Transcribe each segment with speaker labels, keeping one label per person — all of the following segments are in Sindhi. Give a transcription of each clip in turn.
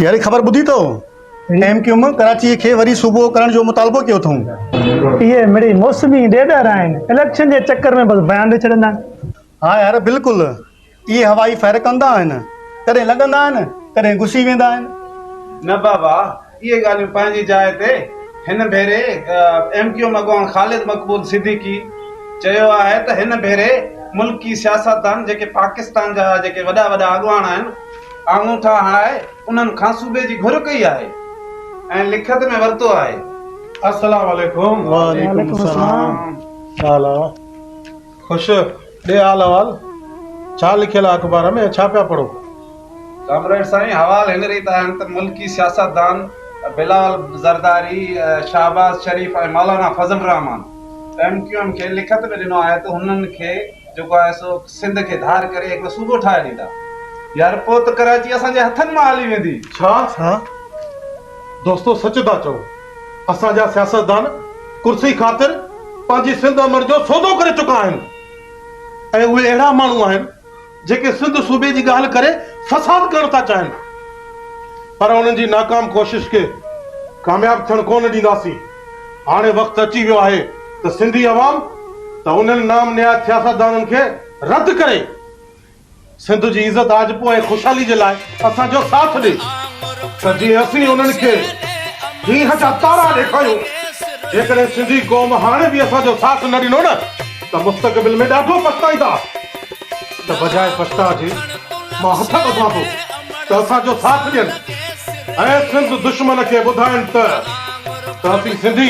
Speaker 1: اهڙي خبر ٻڌي ته ايم ڪيو ايم ڪراچي کي وري صوبو ڪرڻ جو مطالبو ڪيو اٿئون. اهي مڙئي موسمي
Speaker 2: ڏيڏر آهن، اليڪشن جي چڪر ۾ بس بيان ڏئي ڇڏيندا آهن. ها يار بلڪل
Speaker 1: اهي هوائي فهرڪندا آهن، ڪڏهن لڳندا آهن ڪڏهن گسي ويندا آهن. نه بابا
Speaker 3: اهي ڳالهيون پنهنجي جاء تي هن ڀيري ايم ڪيو ايم اڳواڻ خالد مقبول صديقي چيو آهي ته هن ڀيري ملڪي سياستدان جيڪي پاڪستان جا جيڪي وڏا وڏا اڳواڻ آهن آڱوٺا هڻائي انهن کان صوبي جي گهر ڪئي آهي ۽ لکت ۾ ورتو آهي. السلام
Speaker 4: عليڪم. وعليڪم السلام تعالٰي. خوش، ڏي حال احوال، ڇا لکيل آ اخبار ۾؟ ڇا پيا پڙهو؟ ڪامريڊ
Speaker 3: سائين، حوال هن ريت آهن ته ملڪي سياستدان Bilawal Zardari, Shahbaz Sharif ۽ Maulana Fazl ur-Rehman M Q M کي لکت ۾ ڏنو آهي ته هنن کي جيڪو آهي سو سنڌ کي ڌار ڪري هڪڙو صوبو ٺاهي ڏيندا يار پوء ته ڪراچي اسان جي هٿن مان هلي ويندي. ڇا؟
Speaker 4: دوستو سچ ٿا چئو. اسان جا سياستدان ڪرسي خاطر پنهنجي سنڌ امڙ جو سودو ڪري چڪا آهن ۽ اهي اهڙا ماڻهو آهن جيڪي سنڌ صوبي جي ڳالهه ڪري فساد ڪرڻ ٿا چاهين پر انهن جي ناڪام ڪوشش کي ڪامياب ٿيڻ ڪونه ڏينداسين هاڻي وقت اچي ويو آهي ته سنڌي عوام ته انهن نام نهاد سياستدانن کي رد ڪري سنڌ جي عزت آجپو ۽ خوشحالي جي لاء اسان جو ساٿ ڏي ته جيئن اسين انهن کي ڏينهن جا تارا ڏيکاريون جيڪڏهن سنڌي قوم هاڻي به اسان جو ساٿ نه ڏنو نه ته مستقبل ۾ ڏاڍو پڇتائيندا ته بجاء پڇتاء جي مان هٿ ٻڌان ٿو ته اسان جو ساٿ ڏين ۽ سنڌ دشمن کي ٻڌائين ته ته اسين سنڌي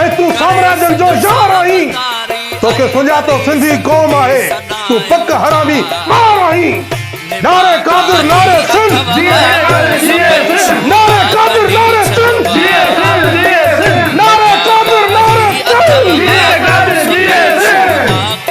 Speaker 1: ۽ تون سامراجن جو يار آهين توکي سڃاتو سنڌي قوم آهي تون پڪ حرامي ٻار آهين نعري قادر نعري سنڌ جيئي سنڌ جيئي سنڌ نعري قادر نعري سنڌ جيئي سنڌ جيئي سنڌ نعري قادر نعري سنڌ جيئي قادر جيئي سنڌ